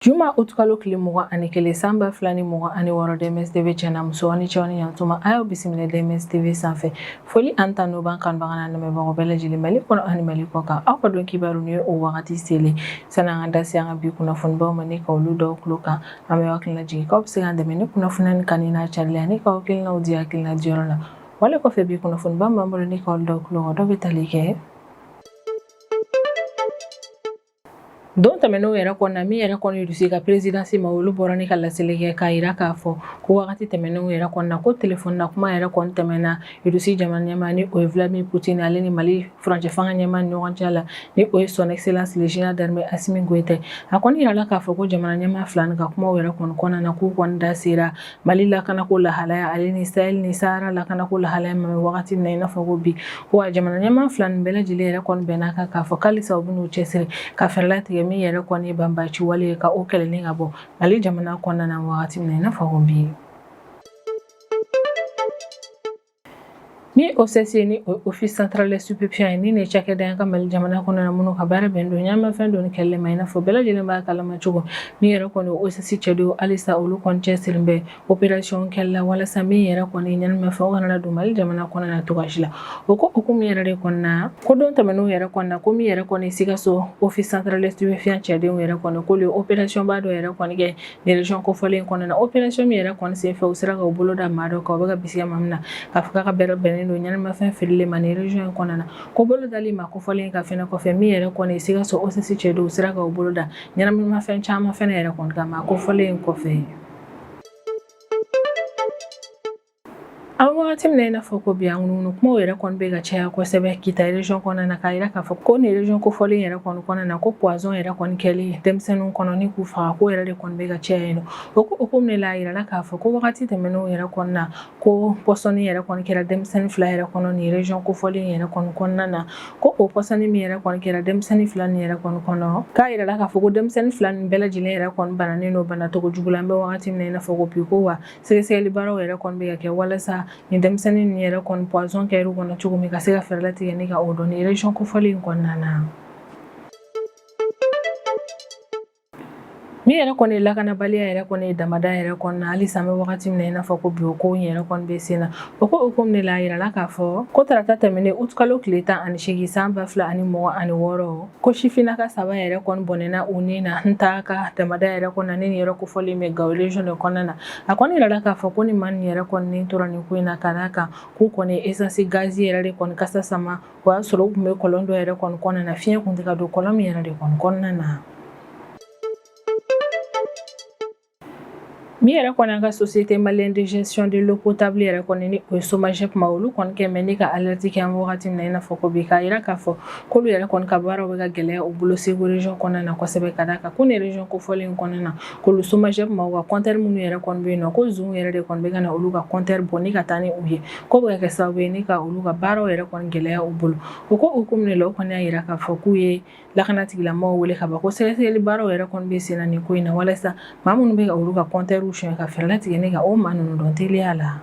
Juma utukalo kile mugan ani kelen san ba fila ni mugan ani wɔɔrɔ DMS TV tiɲɛna muso ani cɛ aw ni yantuma a y'aw bisimila DMS TV sanfɛ foli ani tanu b'an kanubagaw n'an lamɛnbagaw bɛɛ lajɛlen Mali kɔnɔ ani Mali kɔkan aw ka don kibaru ni o wagati selen sani an ka da se an ka bi kunnafonibaw ma ni ka olu da aw tulo kan an bɛ aw hakili lajigin k'aw bɛ se k'an dɛmɛ ni kunnafoni in kanuni n'a carili ani k'aw hakilinaw di hakilina diyɔrɔ la Wale kɔfɛ bi kunnafoniba min b'an bolo ni ka olu da aw tulo kan dɔ bɛ tali kɛ don tɛmɛnenw yɛrɛ kɔnɔna min yɛrɛ kɔni Rusi ka présidence maa olu bɔra ni ka laseli kɛ k'a jira k'a fɔ ko wagati tɛmɛnenw yɛrɛ kɔnɔna ko téléphone na kuma yɛrɛ kɔni tɛmɛna Rusi jamana ɲɛmaa ni o ye Vladimir Poutine ale ni Mali furancɛ fanga ɲɛmaa ɲɔgɔn cɛ la ni o ye son excellence général d'armée Assimi Goïta a kɔni yirala k'a fɔ ko jamana ɲɛmaa fila ka kuma yɛrɛ kɔni kɔnɔna na k'u kɔni da sera Mali lakanako lahalaya ale ni Sahel ni Sahara lakanako lahalaya ma an bɛ wagati min na i n'a fɔ ko bi ko wa jamana ɲɛmaa fila nin bɛɛ lajɛlen yɛrɛ kɔni bɛnn'a kan k'a fɔ k'alisa u bɛn'u cɛsiri ka fɛɛrɛ latigɛ min yɛrɛ kɔni ye banbaci wale ye ka o kɛlɛni ka bɔ Mali jamana kɔnɔna na wagati min na i n'a fɔ ko bi Ni OCS ni Office Central des Stupéfiants ye nin ye cakɛda an ka Mali jamana kɔnɔna na minnu ka baara bɛnnen don ɲɛnaminimafɛn donni kɛlɛli ma i n'a fɔ bɛɛ lajɛlen b'a kalama cogo min yɛrɛ kɔni OCS cɛdenw halisa olu kɔni cɛsirilen bɛ opération kɛli la walasa min yɛrɛ kɔni ɲɛnaminimafɛn o kana don Mali jamana kɔnɔna na cogo si la o ko hukumu yɛrɛ de kɔnɔna ko don tɛmɛnenw yɛrɛ kɔnɔna na ko min yɛrɛ kɔni Sikaso Office Central des Stupéfiants cɛdenw yɛrɛ kɔni k'u ye opérationba dɔ yɛrɛ kɔni kɛ Région kofɔlen in kɔnɔna na opération min yɛrɛ kɔni senfɛ u sera k'u bolo da maa dɔ kan u bɛ ka bisigiya maa min na k'a fɔ k'a ka baara bɛnnen don ɲɛnaminimafɛn feereli ma nin région in kɔnɔna na ko bolo dali maa kofɔlen in kan fɛnɛ kɔfɛ min yɛrɛ kɔni Sikaso OCS cɛdenw sera k'u bolo da ɲɛnaminimafɛn caman fɛnɛ yɛrɛ kɔni kan maa kofɔlen in kɔfɛ An wagati min na i n'a fɔ ko bi ŋunuŋunu kumaw yɛrɛ kɔni bɛ ka caya kosɛbɛ Kita région kɔnɔna na k'a yira k'a fɔ ko nin région kofɔlen yɛrɛ kɔni kɔnɔna na ko poison yɛrɛ kɔni kɛli denmisɛnninw kɔnɔ ni k'u faga ko yɛrɛ de kɔni bɛ ka caya yen nɔ o ko hukumu de la a yirala k'a fɔ ko wagati tɛmɛnenw yɛrɛ kɔnɔna na ko pɔsɔni yɛrɛ kɔni kɛra denmisɛnnin fila yɛrɛ kɔnɔ nin région kofɔlen yɛrɛ kɔni kɔnɔna na ko o pɔsɔni min yɛrɛ kɔni kɛra denmisɛnnin fila nin yɛrɛ kɔni kɔnɔ k'a yirala k'a fɔ ko denmisɛnnin fila nin bɛɛ lajɛlen yɛrɛ kɔni bananen don bana cogo jugu la an bɛ wagati min na i n'a fɔ ko bi ko wa sɛgɛsɛgɛli baaraw yɛrɛ kɔni bɛ ka kɛ walasa nin denmisɛnnin ninnu yɛrɛ kɔni poison kɛr'u kɔnɔ cogo min ka se ka fɛɛrɛ latigɛ ni ka o dɔn nin région kofɔlen in kɔnɔna na min yɛrɛ kɔni ye lakanabaliya yɛrɛ kɔni ye damanda yɛrɛ kɔnɔna halisa an bɛ wagati min na i n'a fɔ ko bi o ko in yɛrɛ kɔni bɛ sen na o ko hukumu de la a yirala k'a fɔ ko tarata tɛmɛnen utukalo kile tan ani seegin san ba fila ani mugan ani wɔɔrɔ ko sifinnaka saba yɛrɛ kɔni bɔnɛna u ni na Ntahaka damada yɛrɛ kɔnɔna nin yɔrɔ kofɔlen bɛ gawo region de kɔnɔna na a kɔni yirala k'a fɔ ko ni maa nin yɛrɛ kɔni ni tora nin ko in na ka d'a kan k'u kɔni essence gazi yɛrɛ de kɔni kasa sama o y'a sɔrɔ u tun bɛ kɔlɔn dɔ yɛrɛ kɔni kɔnɔna na fiɲɛ kun tɛ ka don kɔlɔn min yɛrɛ de kɔni kɔnɔna na Min yɛrɛ kɔni an ka société malienne de gestion de l'eau potable yɛrɛ kɔni ni o ye SOMAGEP maaw olu kɔni kɛ mɛ ni ka alerte kɛ an wagati min na i n'a fɔ ko bi k'a yira k'a fɔ k'olu yɛrɛ kɔni ka baaraw bɛ ka gɛlɛya u bolo Segu region kɔnɔna na kosɛbɛ ka d'a kan ko nin region kofɔlen in kɔnɔna na k'olu SOMAGEP maaw ka compteur minnu yɛrɛ kɔni bɛ yen nɔ ko zon yɛrɛ de kɔni bɛ ka na olu ka compteur bɔ ni ka taa ni u ye k'o bɛ ka kɛ sababu ye ni ka olu ka baaraw yɛrɛ kɔni gɛlɛya u bolo o ko hukumu de la o kɔni y'a yira k'a fɔ k'u ye lakana tigilamɔgɔw wele ka ban ko sɛgɛsɛgɛli baaraw yɛrɛ kɔni bɛ sen na nin ko in na walasa maa minnu bɛ ka olu ka compteurw sonyɛ ka fɛɛrɛ latigɛ ni ka o maa ninnu dɔn teliya la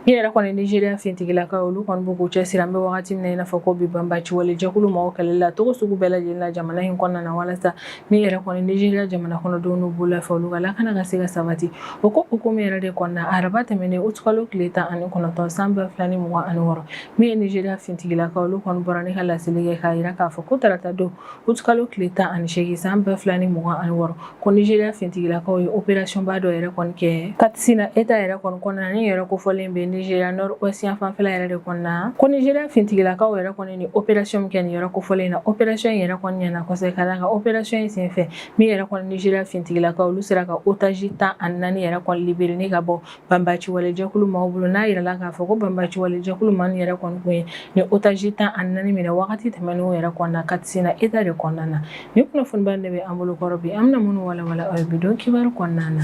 min yɛrɛ kɔni nigeriya fintigilakaw olu kɔni bɛ k'u cɛsiri an bɛ wagati min na i n'a fɔ ko bi banbaci wale jɛkulu mɔgɔw kɛlɛli la cogo sugu bɛɛ lajɛlen na jamana in kɔnɔna na walasa min yɛrɛ kɔni nigeriya jamana kɔnɔdenw n'u bololafɛn olu ka lakana ka se ka sabati o ko hukumu yɛrɛ de kɔnɔna araba tɛmɛnen août kalo tile tan ani kɔnɔntɔn san ba fila ni mugan ani wɔɔrɔ Min ye Nizeriya fintigilakaw olu kɔni bɔra ni ka laseli kɛ k'a jira k'a fɔ ko tarata don août kalo tile tan ani seegin san ba fila ni mugan ani wɔɔrɔ ko Nizeriya fintigilakaw ye opération ba dɔ yɛrɛ kɔni kɛ Katsina Etat yɛrɛ kɔni kɔnɔna nin yɔrɔ kofɔlen bɛ Nizeriya Nord Ouest yan fanfɛla yɛrɛ de kɔnɔna ko Nizeriya fintigilakaw yɛrɛ kɔni ni opération min kɛ nin yɔrɔ kofɔlen in na opération in yɛrɛ kɔni ɲɛna kosɛbɛ ka d'a kan opération in senfɛ min yɛrɛ kɔni Nizeriya fintigilakaw olu sera ka otage tan ani naani yɛrɛ kɔni libérer ka bɔ banbaci wale jɛkulu maaw bolo n'a yirala k'a fɔ ko banbaci wale jɛkulu maa nin yɛrɛ kɔni kun ye ni otage tan ani naani minɛ wagati tɛmɛnenw yɛrɛ kɔnɔna Katsina Etat de kɔnɔna na ni kunnafoniba de bɛ an bolokɔrɔ bi an bɛna minnu walawala aw ye bi don kibaru kɔnɔna na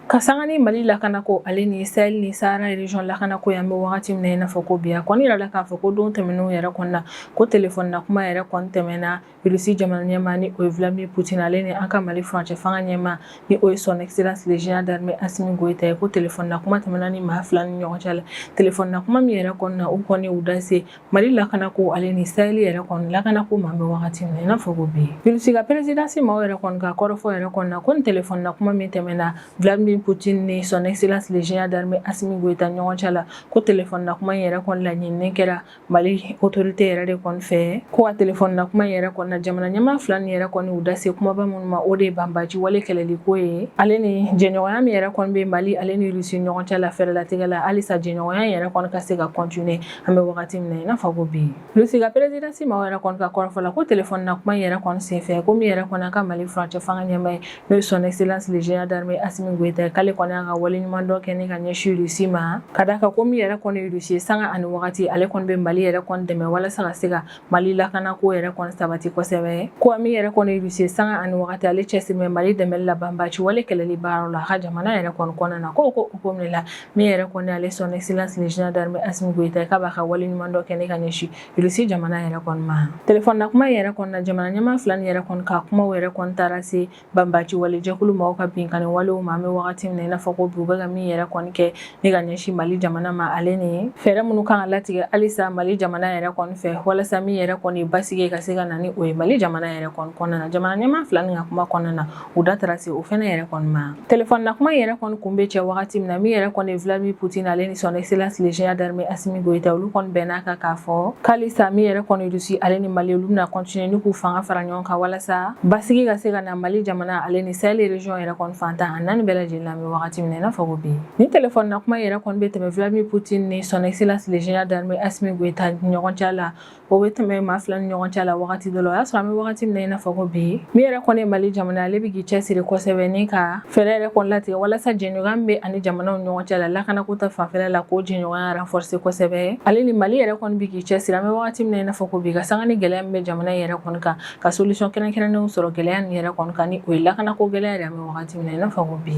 ka sanga ni mali lakanako ale ni sahel ni sahara région lakanako ye an bɛ wagati min i n'a fɔ ko bi a kɔni yirala k'a fɔ ko don tɛmɛnenw yɛrɛ kɔnɔna ko téléphone na kuma yɛrɛ kɔni tɛmɛna Irisi jamana ɲɛmaa ni o ye Vladimir Poutine ale ni an ka Mali furancɛ fanga ɲɛmaa ni o ye son excellence le général d'armée Assimi Goïta ye ko téléphone na kuma tɛmɛna nin maa fila nin ɲɔgɔn cɛ la téléphone na kuma min yɛrɛ kɔnɔna na u kɔni y'u da se Mali lakana ko ale ni sahel yɛrɛ kɔni lakana ko ma an bɛ wagati min i n'a fɔ ko bi Irisi ka présidence maaw yɛrɛ kɔni ka kɔrɔfɔ yɛrɛ kɔnɔna ko ni téléphone na kuma min tɛmɛna Vladimir Poutine ni son excellence le général d'armée Assimi Goïta ɲɔgɔn cɛ la ko téléphone na kuma in yɛrɛ kɔni laɲininen kɛra mali autorité yɛrɛ de kɔni fɛ ko a téléphone na kuma yɛrɛ kɔnɔna jamana ɲɛmaa fila nin yɛrɛ kɔni y'u da se kumaba minnu ma o de ye banbaci wale kɛlɛliko ye ale ni jɛɲɔgɔnya min yɛrɛ kɔni bɛ mali ale ni rusi ɲɔgɔn cɛ la fɛɛrɛ latigɛ la halisa jɛɲɔgɔnya yɛrɛ kɔni ka se ka continuer an bɛ wagati min na i n'a fɔ ko bi rusi ka présidence maaw yɛrɛ kɔni ka kɔrɔfɔ la ko téléphone na kuma yɛrɛ kɔni senfɛ ko min yɛrɛ kɔni an ka mali furancɛ fanga ɲɛmaa ye N'o ye son excellence le général d'armée Assimi Goïta k'ale kɔni y'a ka waleɲumandɔn kɛ ni ka ɲɛsin Russie ma ka d'a kan ko min yɛrɛ kɔni ye Russie ye sanga ani wagati ale kɔni bɛ Mali yɛrɛ kɔni dɛmɛ walasa ka se ka Mali lakana ko yɛrɛ kɔni sabati kosɛbɛ ko min yɛrɛ kɔni ye Russie ye sanga ani wagati ale cɛsiri bɛ Mali dɛmɛli la banbaci wale kɛlɛli baaraw la a ka jamana yɛrɛ kɔni kɔnɔna na ko ko ko min la min yɛrɛ kɔni ale son excellence le général d'armée Assimi Goïta k'a b'a ka waleɲumandɔn kɛ ni ka ɲɛsin Russie jamana yɛrɛ kɔni ma telefɔni na kuma yɛrɛ kɔnɔna jamana ɲɛmaa fila nin yɛrɛ kɔni ka kuma yɛrɛ kɔni taara se banbaci wale jɛkulu maaw ka binkanni walew ma an bɛ wagati min na i n'a fɔ ko bi u bɛ ka min yɛrɛ kɔni kɛ ni ka ɲɛsin mali jamana ma ale ni fɛɛrɛ minnu kan ka latigɛ halisa mali jamana yɛrɛ kɔni fɛ walasa min yɛrɛ kɔni basigi ka se ka na ni o ye mali jamana yɛrɛ kɔnɔna na jamana ɲɛmaa fila nin ka kuma kɔnɔna na U da taara se o fana yɛrɛ kɔni ma telefɔni na kuma yɛrɛ kɔni kun bɛ cɛ wagati min na min yɛrɛ kɔni ye Vladimir Poutine ale ni son excellence le général d'armée Assimi Goïta olu kɔni bɛnna a kan k'a fɔ ko halisa min yɛrɛ kɔni Russie ale ni Mali olu bɛna continuer ni k'u fanga fara ɲɔgɔn kan walasa basigi ka se ka na Mali jamana ale ni Sahel region yɛrɛ kɔni fan tan ni naani bɛɛ lajɛlen na an bɛ wagati min na i n'a fɔ ko bi ni telefɔni na kuma yɛrɛ kɔni bɛ tɛmɛ Vladimir Poutine ni son excellence le général d'armée Assimi Goïta ɲɔgɔn cɛ la o bɛ tɛmɛ maa fila ni ɲɔgɔn cɛ la wagati dɔ la o y'a sɔrɔ an bɛ wagati min na i n'a fɔ ko bi min yɛrɛ kɔni ye mali jamana ale bɛ k'i cɛsiri kosɛbɛ ni ka fɛɛrɛ yɛrɛ kɔni latigɛ walasa jɛɲɔgɔnya min bɛ a ni jamanaw ɲɔgɔn cɛ la lakanako ta fanfɛla la k'o jɛɲɔgɔnya renforcer kosɛbɛ ale ni mali yɛrɛ kɔni bɛ k'i cɛsiri an bɛ wagati min na i n'a fɔ ko bi ka sanga ni gɛlɛya min bɛ jamana yɛrɛ kɔni kan ka solution kɛrɛnkɛrɛnnenw sɔrɔ gɛlɛya nin yɛrɛ kɔni kan ni o ye lakanako gɛlɛya yɛrɛ an bɛ wagati min na i n'a fɔ ko bi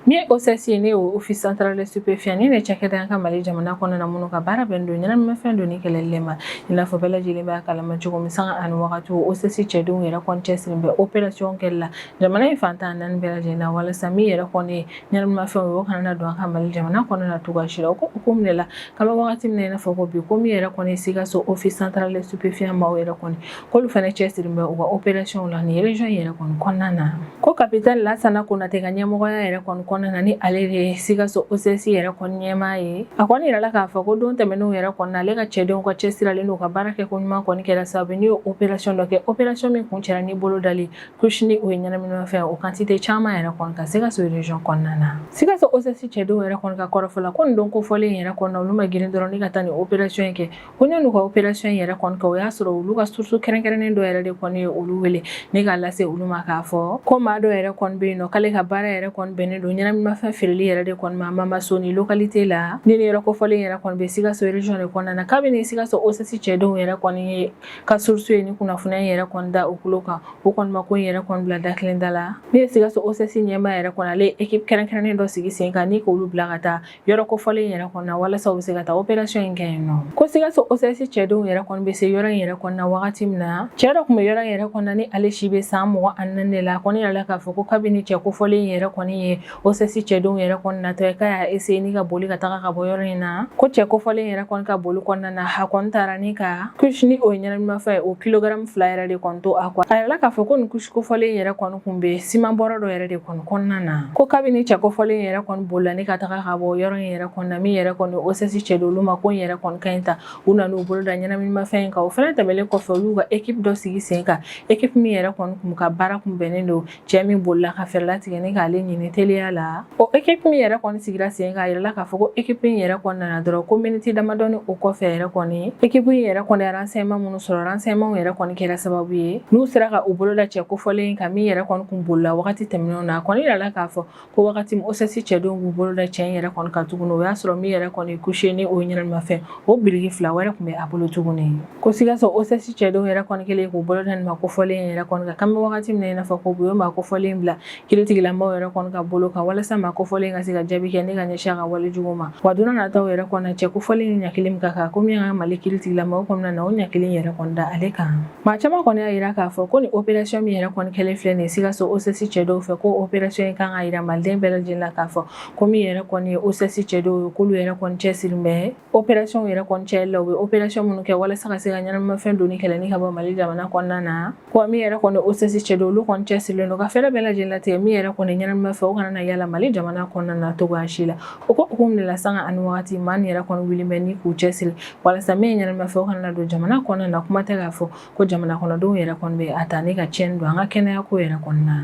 Ni OCS n'o Office central des stupéfiants ni de cakɛda an ka mali jamana kɔnɔna na minnu ka baara bɛnnen don ɲɛnaminimafɛn donni kɛlɛli ma i n'a fɔ bɛɛ lajɛlen b'a kalama cogo min sanga ani wagati OCS cɛdenw yɛrɛ kɔni cɛsirilen bɛ operasiyɔn kɛli la jamana in fan tan ni naani bɛɛ lajɛlen na walasa min yɛrɛ kɔni ye ɲɛnaminimafɛn o kana don an ka mali jamana kɔnɔna na cogoya si la o ko ko minɛ la k'an bɛ wagati min na i n'a fɔ ko bi ko min yɛrɛ kɔni Sikaso Office central des stupéfiants maaw yɛrɛ kɔni k'olu fana cɛsirilen bɛ u ka operasiyɔnw la nin region in yɛrɛ kɔni kɔnɔna na ko kapitɛni lasana konate ka ɲɛmɔgɔya yɛrɛ kɔni kɔnɔna na ni ale de ye sikaso OCS yɛrɛ kɔni ɲɛmaa ye a kɔni yirala k'a fɔ ko don tɛmɛnenw yɛrɛ kɔnɔna ale ka cɛdenw ka cɛsiri ale n'u ka baara kɛ ko ɲuman kɔni kɛra sababu n'u ye operasiyɔn dɔ kɛ operasiyɔn min kun cɛra ni bolo dali kusini o ye ɲɛnaminimafɛn o kantite caman yɛrɛ kɔni kan sikaso region kɔnɔna na sikaso OCS cɛdenw yɛrɛ kɔni ka kɔrɔfɔ la ko nin don kofɔlen yɛrɛ kɔnɔna olu ma girin dɔrɔn ni ka taa nin operasiyɔn in kɛ ko yann'u ka operation in yɛrɛ kɔni kɛ o y'a sɔrɔ olu ka source kɛrɛnkɛrɛnnen dɔ yɛrɛ de kɔni ye olu wele ni k'a lase olu ma k'a fɔ ko maa dɔ yɛrɛ kɔni bɛ yen nɔ k'ale ka baara yɛrɛ kɔni bɛnnen don ɲɛnaminimafɛn feereli yɛrɛ de kɔni ma Mamasoni localité la ni nin yɔrɔ kofɔlen yɛrɛ kɔni bɛ sikaso region de kɔnɔna na kabini sikaso OCS cɛdenw yɛrɛ kɔni ye ka source ye ni kunnafoniya in yɛrɛ kɔni da u tulo kan u kɔni ma ko in yɛrɛ kɔni bila dakelen da la n'o ye sikaso OCS ɲɛmaa yɛrɛ kɔni ale ye équipe kɛrɛnkɛrɛnnen dɔ sigi sen kan ni k'olu bila ka taa yɔrɔ kofɔlen in yɛrɛ kɔnɔna walasa u bɛ se ka taa operasɔn in kɛ yen nɔ ko sikaso osɛsi cɛdenw yɛrɛ kɔni bɛ se yɔrɔ in yɛrɛ kɔnɔna wagati min na cɛɛ dɔ tun bɛ yɔrɔ in yɛrɛ kɔnɔna ni ale si bɛ san mugan ani naani de la kɔni yirala k'a fɔ ko kabini cɛ kofɔlen in yɛrɛ kɔni ye osɛsi cɛdenw yɛrɛ kɔni natɔ ye k'a y'a eseye ni ka boli ka taga ka bɔ yɔrɔ in na ko cɛ kofɔlen in yɛrɛ kɔni ka boli kɔnɔna na a kɔni taara ni ka kusi ni o ye ɲɛnaminimafɛn ye o kilogaramu fila yɛrɛ de kɔni to a kɔ a yirala k'a fɔ ko nin kusi kofɔlen in yɛrɛ kɔni tun bɛ siman bɔrɔ dɔ yɛrɛ de kɔnɔ kɔnɔna na ko kabini cɛ kofɔlen in yɛrɛ kɔni bolila ni ka taga ka bɔ yɔrɔ in yɛrɛ kɔnɔna min yɛrɛ kɔni osɛsi cɛdenw olu ma kɔn yɛrɛ kɔni ka ɲi ta u nana u bolo da ɲɛnaminimafɛn in kan o fana tɛmɛlen kɔfɛ olu ka ekip dɔ sigi sen kan ekip min yɛrɛ kɔni kun ka baara kun bɛnnen don cɛ min bolila ka fɛɛrɛ latigɛ ni k'ale ɲini teliya la o ekip min yɛrɛ kɔni sigira sen kan a yirala k'a fɔ ko ekip in yɛrɛ kɔnɔna dɔrɔn ko miniti damadɔni o kɔfɛ yɛrɛ kɔni ekip in yɛrɛ kɔni ye renseignement minnu sɔrɔ renseignement yɛrɛ kɔni kɛra sababu ye n'u sera ka u bolo da cɛ kofɔlen kan min yɛrɛ kɔni tun bolila wagati tɛmɛnenw na a kɔni yirala k'a fɔ ko wagati min osɛsi cɛdenw b'u bolo da cɛ in yɛrɛ kɔni kan tuguni o y'a sɔrɔ min yɛrɛ kɔni kusi ni o ɲɛnamafɛn o biriki fila wɛrɛ tun bɛ a bolo tuguni ko sikaso osɛsi cɛdenw yɛrɛ kɔni kɛlen k'u bolo da maa kofɔlen yɛrɛ kɔni kan k'an bɛ wagati min na i n'a fɔ ko u ye maa kofɔlen bila Kiritigɛlamaaw yɛrɛ kɔni ka bolo kan walasa maa kofɔlen ka se ka jaabi kɛ ni ka ɲɛsin a ka wale jugu ma wa don nataw yɛrɛ kɔnɔ cɛ kofɔlen ɲangili min ka kan ko min ka mali kiritigɛlamaaw kɔni na o ɲangili yɛrɛ kɔni da ale kan maa caman kɔni y'a jira k'a fɔ ko ni operasɔn min yɛrɛ kɔni kɛlen filɛ nin sikaso osɛsi cɛdenw fɛ ko operasɔn in kan k'a jira maliden bɛɛ lajɛlen la k'a fɔ ko min yɛrɛ kɔni ye osɛsi cɛdenw ye k'olu yɛrɛ kɔni cɛsirilen bɛ Opération yɛrɛ kɔni kɛli la u bɛ opération minnu kɛ walasa ka se ka ɲɛnamafɛn donni kɛlɛ ni k'a bɔ Mali jamana kɔnɔna na wa min yɛrɛ kɔni OCS cɛdenw olu kɔni cɛsirilen don ka fɛɛrɛ bɛɛ lajɛlen latigɛ min yɛrɛ kɔni ɲɛnamafɛn o kana na yala Mali jamana kɔnɔna na cogoya si la o ko hukumu de la sanga ani wagati maa min yɛrɛ kɔni wulilen bɛ ni k'u cɛsiri walasa min ye ɲɛnamafɛn o kana na don jamana kɔnɔna na kuma tɛ k'a fɔ ko jamana kɔnɔdenw yɛrɛ kɔni bɛ a ta ni ka tiɲɛni don an ka kɛnɛyako yɛrɛ kɔnɔna na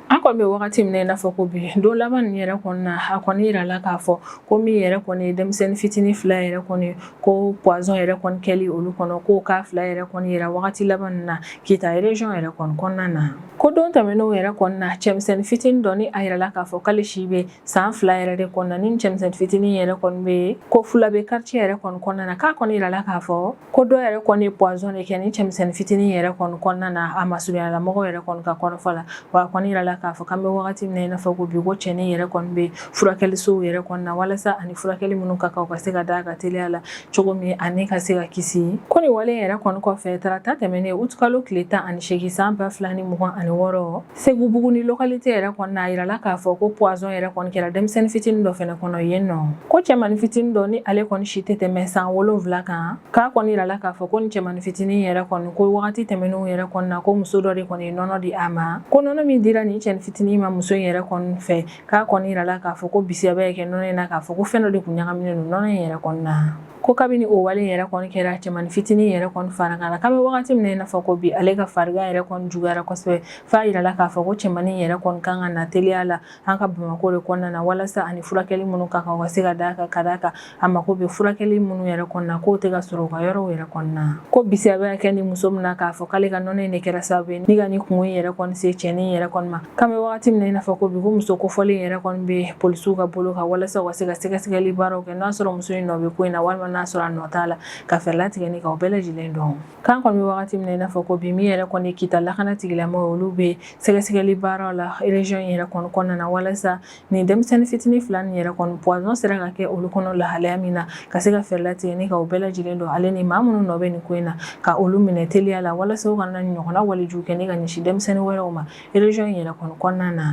an kɔni bɛ wagati min na i n'a fɔ ko bi don laban nin yɛrɛ kɔnɔna na a kɔni jirala k'a fɔ ko min yɛrɛ kɔni denmisɛnnin fitinin fila yɛrɛ kɔni ko pwazɔn yɛrɛ kɔni kɛli olu kɔnɔ k'o cas fila yɛrɛ kɔni jira wagati laban nin na kita rezɔn yɛrɛ kɔnɔna na ko don tɛmɛnenw yɛrɛ kɔnɔna na cɛmisɛnnin fitinin dɔ ni a yirala k'a fɔ k'ale si bɛ san fila yɛrɛ de kɔnɔna ni cɛmisɛn fitinin yɛrɛ kɔni bɛ Kofulabɛ quartier yɛrɛ kɔni kɔnɔna na k'a kɔni yirala k'a fɔ ko dɔ yɛrɛ kɔni ye poison de kɛ ni cɛmisɛn fitinin yɛrɛ kɔni kɔnɔna na a masurunyala mɔgɔw yɛrɛ kɔni ka kɔrɔfɔ la wa a kɔni yirala k'a fɔ k'an bɛ wagati min na i n'a fɔ ko bi ko cɛnin yɛrɛ kɔni bɛ furakɛlisow yɛrɛ kɔnɔna na walasa a ni furakɛli minnu ka kan u ka se ka d'a kan teliya la cogo min ani ka se ka kisi ko nin wale yɛrɛ kɔni kɔfɛ tarata tɛmɛnen utikalo tile tan ani seegin san ba fila ni mugan ani wɔɔrɔ Segubuguni localité yɛrɛ kɔni na a yirala k'a fɔ ko poison yɛrɛ kɔni kɛra denmisɛnnin fitinin dɔ fɛnɛ kɔnɔ yen nɔ ko cɛmani fitinin dɔ ni ale kɔni si tɛ tɛmɛ san wolonwula kan k'a kɔni yirala k'a fɔ ko ni cɛmani fitinin yɛrɛ kɔni ko wagati tɛmɛnenw yɛrɛ kɔni na ko muso dɔ de kɔni ye nɔnɔ di a ma ko nɔnɔ min dira nin cɛni fitinin ma muso in yɛrɛ kɔni fɛ k'a kɔni yirala k'a fɔ ko bisigiya bɛ ka kɛ nɔnɔ in na k'a fɔ ko fɛn dɔ de kun ɲagaminen don nɔnɔ in yɛrɛ kɔni na ko kabini o wale yɛrɛ kɔni kɛra cɛmani fitinin yɛrɛ kɔni farigan na k'an bɛ wagati min na i n'a fɔ ko bi ale ka farigan yɛrɛ kɔni juguyara kosɛbɛ f'a yirala k'a fɔ ko cɛmani yɛrɛ kɔni kan ka na teliya la an ka bamakɔ de kɔnɔna na walasa a ni furakɛli minnu ka kan ka se ka d'a kan ka d'a kan a mako bɛ furakɛli minnu yɛrɛ kɔni na k'o tɛ ka sɔrɔ u ka yɔrɔw yɛrɛ kɔni na ko bisigiya bɛ ka kɛ nin muso min na k'a fɔ k'ale ka nɔnɔ in de kɛra sababu ye ni ka nin kunko yɛrɛ kɔni se cɛnin yɛrɛ kɔni ma K'an bɛ wagati min na i n'a fɔ ko bi ko muso kofɔlen yɛrɛ kɔni bɛ polisiw ka bolo kan walasa u ka se ka sɛgɛsɛgɛli baaraw kɛ n'a sɔrɔ muso in nɔ bɛ ko in na walima n'a sɔrɔ a nɔ t'a la ka fɛɛrɛ latigɛ ni ka o bɛɛ lajɛlen dɔn k'an kɔni bɛ wagati min na i n'a fɔ ko bi min yɛrɛ kɔni Kita lakana tigilamaaw olu bɛ sɛgɛsɛgɛli baaraw la région yɛrɛ kɔni kɔnɔna na walasa Nin denmisɛnnin fitinin fila nin yɛrɛ kɔni poison sera ka kɛ olu kɔnɔ lahalaya min na ka se ka fɛɛrɛ latigɛ ni ka o bɛɛ lajɛlen dɔn ale ni maa minnu nɔ bɛ nin ko in na ka olu minɛ teliya la walasa u kana ɲɔgɔnna walejugu kɛ ni ka ɲɛsin denmisɛnnin wɛrɛw ma région yɛrɛ kɔni kɔnɔna na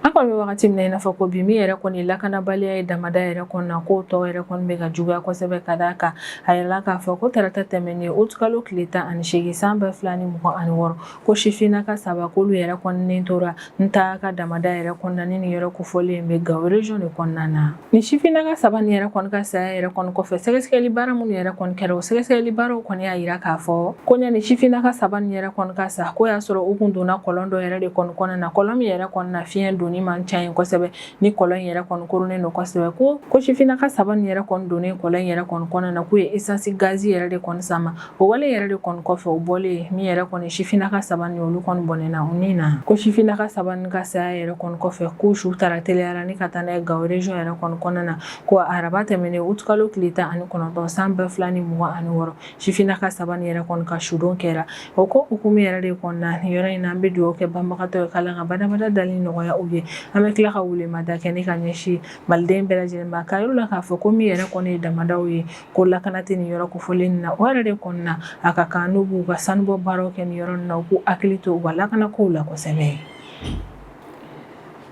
an kɔni bɛ wagati min na i n'a fɔ ko bi min yɛrɛ kɔni lakanabaliya ye damada yɛrɛ kɔni na k'o tɔ yɛrɛ kɔni bɛ ka juguya kosɛbɛ ka d'a kan a yirala k'a fɔ ko tarata tɛmɛnen utukalo tile tan ani seegin san ba fila ni mugan ani wɔɔrɔ ko sifinnaka saba k'olu yɛrɛ kɔni ni tora Ntahaka damada yɛrɛ kɔni na ni nin yɔrɔ kofɔlen bɛ Gawo région de kɔnɔna na nin sifinnaka saba nin yɛrɛ kɔni ka saya yɛrɛ kɔni kɔfɛ sɛgɛsɛgɛli baara minnu yɛrɛ kɔni kɛra o sɛgɛsɛgɛli baaraw kɔni y'a yira k'a fɔ ko ɲani sifinnaka saba nin yɛrɛ kɔni ka sa ko y'a sɔrɔ u kun donna kɔlɔn dɔ yɛrɛ de kɔni kɔnɔna na kɔlɔn min yɛrɛ kɔni na fiɲɛ donni man ca yen kosɛbɛ ni kɔlɔn in yɛrɛ kɔni koronnen don kosɛbɛ ko ko sifinnaka saba nin yɛrɛ kɔni donnen kɔlɔn in yɛrɛ kɔni kɔnɔna na k'u ye esansi gazi yɛrɛ de kɔni sama o wale yɛrɛ de kɔni kɔfɛ o bɔlen min yɛrɛ kɔni sifinnaka saba nin olu kɔni bɔnɛna u ni na ko sifinnaka saba nin ka saya yɛrɛ kɔni kɔfɛ k'u su taara teliya la ni ka taa n'a ye Gawo région yɛrɛ kɔni kɔnɔna na ko araba tɛmɛnen utukalo tile tan ani kɔnɔntɔn san ba fila ni mugan ani wɔɔrɔ sifinnaka saba nin yɛrɛ kɔni ka sudon kɛra o ko hukumu yɛrɛ de kɔni na nin yɔrɔ in na an bɛ dugawu kɛ banbagatɔ ye k'Ala ka badabada dali nɔgɔya u ye an bɛ tila ka weleweleda kɛ ni ka ɲɛsin maliden bɛɛ lajɛlen ma k'a yir'u la k'a fɔ ko min yɛrɛ kɔni ye damadaw ye ko lakana tɛ nin yɔrɔ kofɔlen na o yɛrɛ de kɔni na a ka kan n'u b'u ka sanubɔ baaraw kɛ nin yɔrɔ na u k'u hakili to u ka lakanakow la kosɛbɛ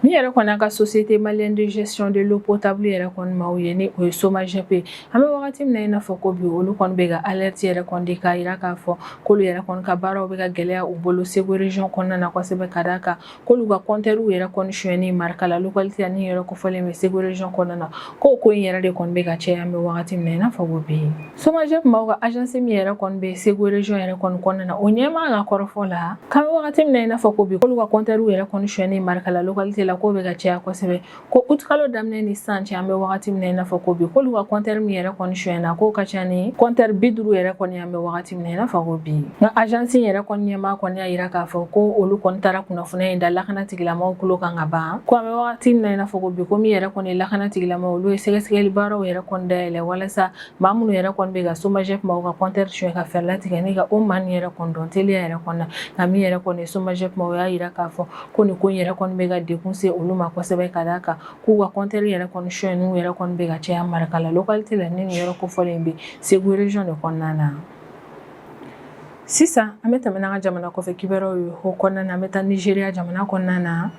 Min yɛrɛ kɔni an ka société malienne de gestion de l'eau potable yɛrɛ kɔni maaw ye ni o ye SOMAGEP ye an bɛ wagati min na i n'a fɔ ko bi olu kɔni bɛ ka alerte yɛrɛ kɔni di k'a yira k'a fɔ k'olu yɛrɛ kɔni ka baaraw bɛ ka gɛlɛya u bolo Segu région kɔnɔna na kosɛbɛ ka d'a kan k'olu ka compteurw yɛrɛ kɔni sonyani Markala localité la ni yɔrɔ kofɔlen bɛ Segu région kɔnɔna na Ko ko in yɛrɛ de kɔni bɛ ka caya an bɛ wagati min na i n'a fɔ ko bi somajɛpu maaw ka azansi min yɛrɛ kɔni bɛ segu rejɔn yɛrɛ kɔni kɔnɔna na o ɲɛmaa ka kɔrɔfɔ la k'an bɛ wagati min na i n'a fɔ ko bi k'olu ka kɔntɛriw yɛrɛ kɔni sonyani marakala lɔkalite la k'o bɛ ka caya kosɛbɛ ko utukalo daminɛ ni sisan cɛ an bɛ wagati min na i n'a fɔ ko bi k'olu ka kɔntɛri min yɛrɛ kɔni sonyana k'o ka ca ni kɔntɛri bi duuru yɛrɛ kɔni ye an bɛ wagati Min na i n'a fɔ ko bi nka azansi yɛrɛ kɔni ɲɛmaa kɔni y'a jira k'a fɔ ko olu kɔni taara kunnafoniya in da lakana tigilamaaw tulo kan ka ban ko an bɛ wagati min na i n'a fɔ ko bi ko min yɛrɛ kɔni lakana tigilamaaw olu ye sɛgɛsɛgɛli baaraw yɛrɛ kɔni dayɛlɛ walasa maa minnu yɛrɛ kɔni bɛ ka somajɛpu maaw ka kɔntɛri sonya ka fɛɛrɛ latigɛ ni ka o maa nin yɛrɛ kɔni dɔn teliya yɛrɛ kɔnɔ nka min yɛrɛ kɔni somajɛpu maaw y'a jira k'a fɔ ko nin ko yɛrɛ kɔni bɛ ka degun se olu ma kosɛbɛ ka d'a kan k'u ka kɔntɛri yɛrɛ kɔni sonyaniw yɛrɛ kɔni bɛ ka caya marakala lɔkalite la ni nin yɔrɔ kofɔlen in bɛ segu rejɔn de kɔnɔna na sisan an bɛ tɛmɛ n'an ka jamana kɔfɛ kibaruyaw ye o kɔnɔna na an bɛ taa nizeriya jamana kɔnɔna na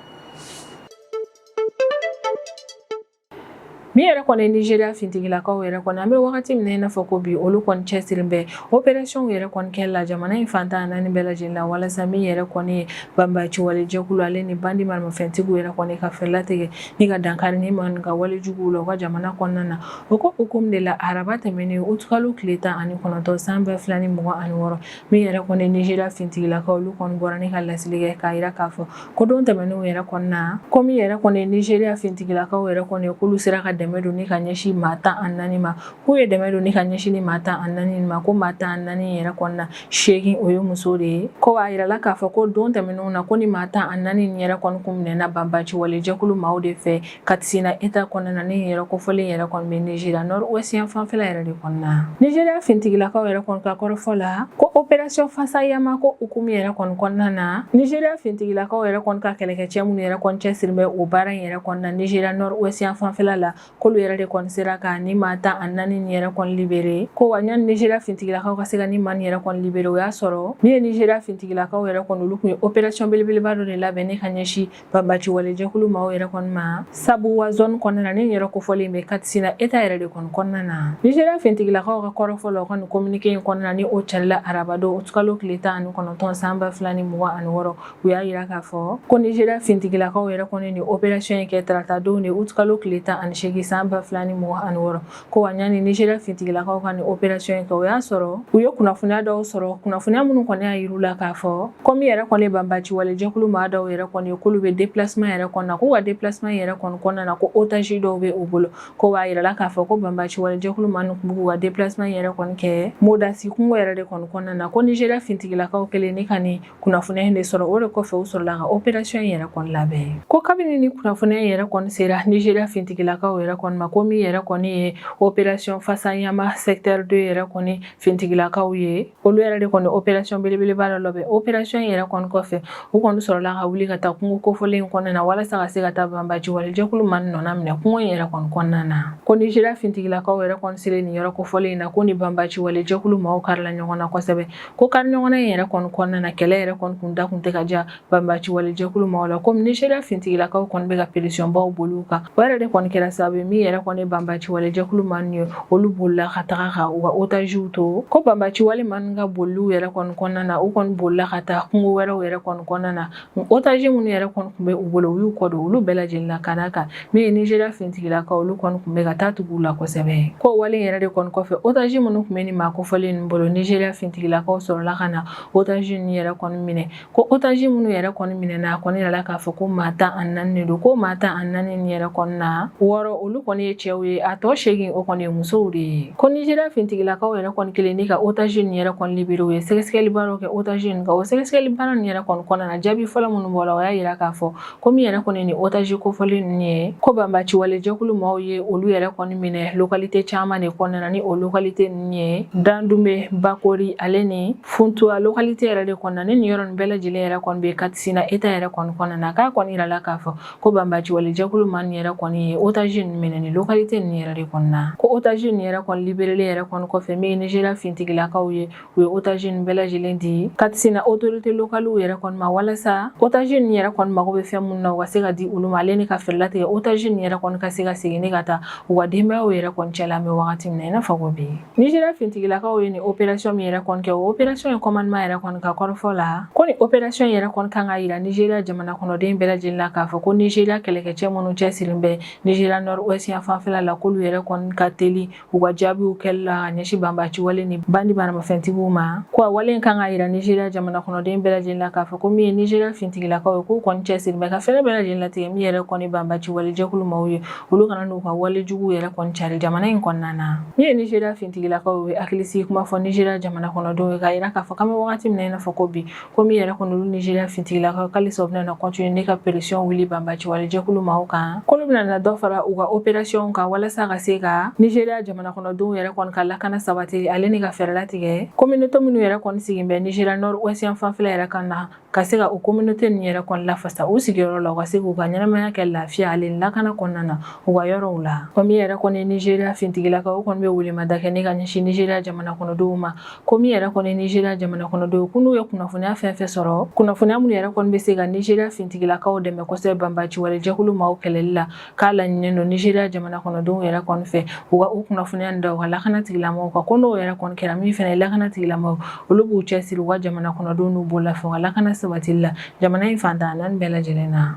min yɛrɛ kɔni nizeriya fintigilakaw yɛrɛ kɔni an bɛ wagati min na i n'a fɔ ko bi olu kɔni cɛsirilen bɛ operasiyɔnw yɛrɛ kɔni kɛli la jamana in fan tan naani bɛɛ lajɛlen la walasa min yɛrɛ kɔni ye banbaaci walejɛkulu ale ni bandi maramafɛntigiw yɛrɛ kɔni ka fɛɛrɛ latigɛ ni ka dankari nin maaw ka walejuguw la u ka jamana kɔnɔna na o ko hukumu de la araba tɛmɛnen utukalo tile tan ani kɔnɔntɔn san ba fila ni mugan ani wɔɔrɔ min yɛrɛ kɔni nizeriya fintigilakaw olu kɔni bɔra ni ka laseli kɛ k'a yira k'a fɔ ko don tɛmɛnenw yɛrɛ kɔnɔna ko min yɛrɛ kɔni nizeriya fintigilakaw yɛrɛ kɔni k'olu sera ka dɛmɛ don ni ka ɲɛsin maa tan ani naani ma k'u ye dɛmɛ don ni ka ɲɛsin nin maa tan ani naani ma ko maa tan ani naani yɛrɛ kɔnɔna seegin o ye muso de ye ko a yirala k'a fɔ ko don tɛmɛnenw na ko nin maa tan ani naani nin yɛrɛ kɔni kun minɛna banbaaci wale jɛkulu maaw de fɛ katisina eta kɔnɔna na nin yɔrɔ kofɔlen yɛrɛ kɔni bɛ nizeriya nɔri wɛsiti yanfan fɛla yɛrɛ de kɔnɔna na nizeriya fintigilakaw yɛrɛ kɔni ka kɔrɔfɔ la ko operasiyɔn fasayama ko hukumu yɛrɛ kɔni kɔnɔna na nizeriya fintigilakaw yɛrɛ kɔni ka kɛlɛkɛcɛ minnu yɛrɛ kɔni cɛsiri bɛ o baara in yɛrɛ kɔnɔna nizeriya nɔri wɛsiti yanfan fɛla la k'olu yɛrɛ de kɔni sera ka nin maa tan ani naani nin yɛrɛ kɔni libere ko wa yanni nizeriya fintigilakaw ka se ka nin maa nin yɛrɛ kɔni libere o y'a sɔrɔ min ye nizeriya fintigilakaw yɛrɛ kɔni olu tun ye operasiyɔn belebeleba dɔ de labɛn ni ka ɲɛsin banbaci walejɛkulu maaw yɛrɛ kɔni ma sabuwa zɔni kɔnɔna na nin yɔrɔ kofɔlen bɛ katisina eta yɛrɛ de kɔni kɔnɔna na nizeriya fintigilakaw ka kɔrɔfɔ la u ka nin kominike in kɔnɔna ni o carila arabadon utukalo tile tan ani kɔnɔntɔn san ba fila ni mugan ani wɔɔrɔ u y'a jira k'a fɔ ko nizeriya fintigilakaw yɛrɛ kɔni nin operasiyɔn in kɛ taratadon de utukalo tile tan ani seegin san ba fila ni mugan ani wɔɔrɔ ko wa ɲani nizeriya fintigilakaw ka nin operasiyɔn in kɛ o y'a sɔrɔ u ye kunnafoniya dɔw sɔrɔ kunnafoniya minnu kɔni y'a yir'u la k'a fɔ ko min yɛrɛ kɔni banbaci wale jɛkulu maa dɔw yɛrɛ kɔni ye k'olu bɛ depilasima yɛrɛ kɔnɔna k'u ka depilasima yɛrɛ kɔni kɔnɔna na ko otazi dɔw bɛ u bolo ko b'a yirala k'a fɔ ko banbaci wale jɛkulu maa ninnu tun b'u ka depilasima yɛrɛ kɔni kɛ modasi kungo yɛrɛ de kɔni kɔnɔna na ko nizeriya fintigilakaw kɛlen ni ka nin kunnafoniya in de sɔrɔ o de kɔfɛ u sɔrɔla ka operasiyɔn in yɛrɛ kɔni labɛn ko kabini ni kunnafoniya in yɛrɛ kɔni sera nizeriya fintigilakaw yɛrɛ kɔni ma ko min yɛrɛ kɔni ye operasiyɔn fansan yama sɛkitɛri de yɛrɛ kɔni fintigilakaw ye olu yɛrɛ de kɔni operasiyɔn belebeleba dɔ labɛn operasiyɔn in yɛrɛ kɔni kɔfɛ u kɔni sɔrɔla ka wuli ka taa kungo kofɔlen in kɔnɔna na walasa ka se ka taa banbaaci wale jɛkulu maa nin nɔna minɛ kungo in yɛrɛ kɔni kɔnɔna na ko nizeriya fintigilakaw yɛrɛ kɔni selen nin yɔrɔ kofɔlen in na k'u ni banbaaci wale jɛkulu maaw karila ɲɔgɔn na kosɛbɛ ko kari ɲɔgɔn na in yɛrɛ kɔni kɔnɔna na kɛlɛ yɛrɛ kɔni kun da kun tɛ ka diya banbaci wale jɛkulu maaw la komi nizeriya fintigilakaw kɔni bɛ ka peresiyɔnbaw boli u kan o yɛrɛ de kɔni kɛra sababu ye min yɛrɛ kɔni banbaci wale jɛkulu maa ninnu ye olu bolila ka taga ka u ka otaziw to ko banbaci wale maa ninnu ka boliw yɛrɛ kɔni kɔnɔna na u kɔni bolila ka taa kungo wɛrɛw yɛrɛ kɔni kɔnɔna na otazi minnu yɛrɛ kɔni tun bɛ u bolo u y'u kɔ don olu bɛɛ lajɛlen na ka d'a kan min ye nizeriya finitigilakaw olu kɔni tun bɛ ka taa tugu u la kosɛbɛ ko wale yɛrɛ de kɔni kɔfɛ otazi minnu tun bɛ nin maa kofɔlen ninnu bolo nizeriya finitigilakaw sɔrɔla ka na otazi ninnu yɛrɛ kɔni minɛ ko otazi minnu yɛrɛ kɔni minɛna a kɔni yira k'a fɔ ko maa tan ani naani de don ko maa tan ani naani nin yɛrɛ kɔni na wɔɔrɔ olu kɔni ye cɛw ye a tɔ seegin o kɔni ye musow de ye ko nizeriya finitigilakaw yɛrɛ kɔni kɛlen ni ka otazi ninnu yɛrɛ kɔni libere u ye sɛgɛsɛgɛlibaaraw kɛ Otazi ninnu kan o sɛgɛsɛgɛli baara nin yɛrɛ kɔni kɔnɔna na jaabi fɔlɔ minnu bɔra o y'a yira k'a fɔ ko min yɛrɛ kɔni nin otazi kofɔlen ninnu ye ko banbaciwalejɛkulu maaw ye olu yɛrɛ kɔni minɛ lokalite caman de kɔnɔna na ni o lokalite ninnu ye dandume bakori ale ni funtuwa lokalite yɛrɛ de kɔnɔna ni nin yɔrɔ nin bɛɛ lajɛlen yɛrɛ kɔni bɛ katisina eta yɛrɛ kɔni kɔnɔna na k'a kɔni yirala k'a fɔ ko banbaciwalejɛkulu maa nin yɛrɛ kɔni ye otazi ninnu minɛ nin lokalite ninnu yɛrɛ de kɔnɔna ko otazi ninnu yɛrɛ kɔni liberelen yɛrɛ kɔni kɔfɛ min ye nizeriya fintigilakaw ye u ye otazi ninnu bɛɛ lajɛlen di katisina otorite lokaliw yɛrɛ kɔni ma walasa otazi ninnu yɛrɛ kɔni mago bɛ fɛn minnu na u ka se ka di olu ma ale ni ka fɛɛrɛ latigɛ otazi ninnu yɛrɛ kɔni ka se ka segin ne ka taa u ka denbayaw yɛrɛ kɔni cɛ la an bɛ wagati min na i n'a fɔ ko bi nizeriya fintigilakaw ye nin operasiyɔn min yɛrɛ kɔni kɛ o operasiyɔn in kɔmandiman yɛrɛ kɔni ka kɔrɔfɔ la ko nin operasiyɔn yɛrɛ kɔni kan k'a yira nizeriya jamana kɔnɔden bɛɛ lajɛlen la k'a fɔ ko nizeriya kɛlɛkɛcɛ minnu cɛsirilen bɛ nizeriya nɔri wɛsi yan fanfɛla la k'olu yɛrɛ kɔni ka teli u ka jaabiw kɛli la ka ɲɛsin banbaaci wale ni bandi maramafɛntigiw ma ko a wale in kan k'a yira nizeriya jamana kɔnɔden bɛɛ lajɛlen la k'a fɔ ko min ye nizeriya fintigilakaw ye k'u kɔni cɛsirilen bɛ ka fɛɛrɛ bɛɛ lajɛlen latigɛ min yɛrɛ kɔni banbaaci wale jɛkulu maaw ye olu kana n'u ka wale jugu yɛrɛ kɔni cari jamana in kɔnɔna na min ye nizeriya fintigilakaw ye hakilisigi kuma fɔ nizeriya jamana kɔnɔdenw ye k'a yira k'a fɔ k'an bɛ wagati min na i n'a fɔ ko bi ko min yɛrɛ kɔni olu nizeriya fintigilakaw k'alisa u bɛna kɔntine ne ka peresiyɔn wuli banbaci wale jɛkulu maaw kan k'olu bɛna dɔ fara u ka operasiyɔnw kan walasa ka se ka nizeriya jamana kɔnɔdenw yɛrɛ kɔni ka lakana sabati ale ni ka fɛɛrɛ latigɛ kominote minnu yɛrɛ kɔni sigin bɛ nizeriya nɔri wɛsi yan fanfɛla yɛrɛ kan na ka se ka o kominote ninnu yɛrɛ kɔni lafasa u sigiyɔrɔ la u ka se k'u ka ɲɛnamaya kɛ lafiya ale ni lakana kɔnɔna na u ka yɔrɔw la ko min yɛrɛ kɔni nizeriya fintigilakaw kɔni bɛ welemada kɛ ne ka ɲɛsin nizeriya jamana kɔnɔdenw ma ko min yɛrɛ kɔni nizeriya jamana kɔnɔdenw ko n'u ye kunnafoniya fɛn fɛn sɔrɔ kunnafoniya minnu yɛrɛ kɔni bɛ se ka nizeriya fintigilakaw dɛmɛ kosɛbɛ banbaci wale jɛkulu maaw kɛlɛli la k'a laɲininen don nizeriya jamana kɔnɔdenw yɛrɛ kɔni fɛ u ka o kunnafoniya nin da u ka lakana tigilamɔgɔw kan ko n'o yɛrɛ kɔni kɛra min fana ye lakana tigilamɔgɔw olu b'u cɛsiri u ka jamana kɔnɔdenw n'u bololafɛnw ka lakana sabatili la jamana in fan tan naani bɛɛ lajɛlen na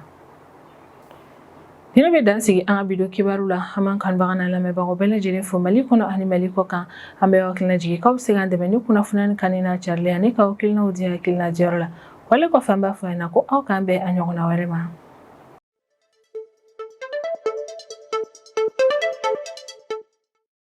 Nina bɛ dan sigi an ka bi don kibaru la an b'an kanubaga n'a lamɛnbagaw bɛɛ lajɛlen fo mali kɔnɔ ani mali kɔ kan an bɛ aw hakilina jigin k'aw bɛ se k'an dɛmɛ ni kunnafoniya nin kanuni n'a carili ani k'aw hakilinaw di hakilina diyɔrɔ la wale kɔfɛ an b'a fɔ a ɲɛ na ko aw k'an bɛn a ɲɔgɔnna wɛrɛ ma